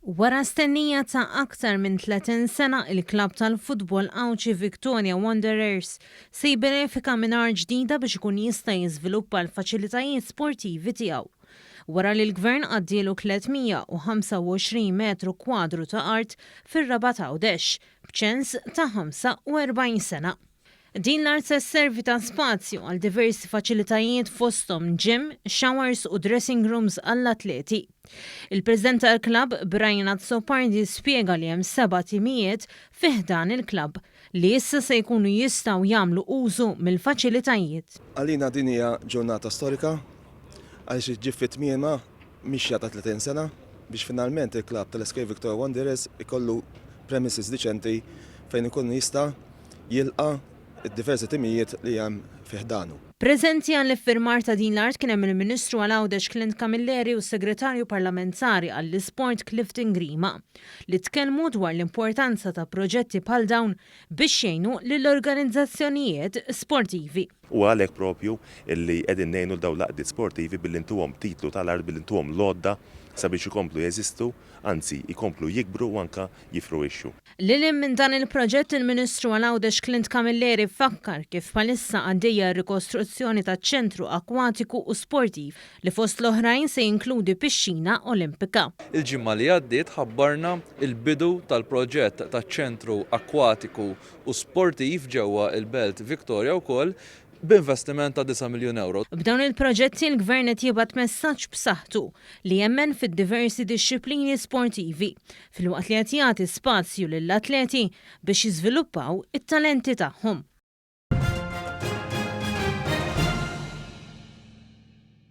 Wara stennija ta' aktar minn 30 sena, il-klabb tal-futbol Għawdxi Victoria Wanderers se jibbenefika minn art ġdida biex ikun jista' jiżviluppa l-faċilitajiet sportivi tiegħu. Wara li l-Gvern għaddielu 325 metru kwadru ta' art fir-Rabat Għawdex, b'ċens ta' 45 sena. Din l-art se sservi ta' spazju għal diversi faċilitajiet fosthom gym, showers u dressing rooms għall-atleti. Il-President tal-klabb Brian Azzopardi spjega li hemm seba' timijiet fi ħdan il-klabb li issa se jkunu jistgħu jagħmlu użu mill-faċilitajiet. Għalina din hija ġurnata storika għaliex iġġib fi tmiemha mixja ta' 30 sena biex finalment il-klabb tal-SK Victoria Wanderers ikollu premises diċenti fejn ikun jista' jilqa' d-diversi timijiet li hemm fi ħdanu. Preżenti għall-iffirmar ta' din l-art kien hemm il-Ministru għal Għawdex Clint Camilleri u s-Segretarju Parlamentari għall-Isport Clifton Grima li tkellmu dwar l-importanza ta' proġetti bħal dawn biex jgħinu lill-organizzazzjonijiet sportivi. Huwa għalhekk proprju li qegħdin ngħinu lil dawn l-għaqdiet sportivi billi ntuhom titlu tal-art, billi ntuhom l-għodda sabiex ikomplu jeżistu, anzi jkomplu jikbru u anke jiffruwixxu. Lil hinn minn dan il-proġett, il-Ministru għal Għawdex Clint Camilleri fakkar kif bħalissa għaddejja r-rikostruzzjoni taċ-Ċentru Akwatiku u Sportiv li fost l-oħrajn se jinkludi pixxina Olimpika. Il-ġimgħa li għaddiet ħabbarna l-bidu tal-proġett taċ-Ċentru Akwatiku u Sportiv ġewwa l-Belt Victoria wkoll b'investiment ta' disa' miljun ewro. B'dawn il-proġetti l-Gvern qed jibgħat messaġġ b'saħħtu li jemmen fid-diversi dixxiplini sportivi filwaqt li qed jagħti spazju lill-atleti biex jiżviluppaw it-talenti tagħhom.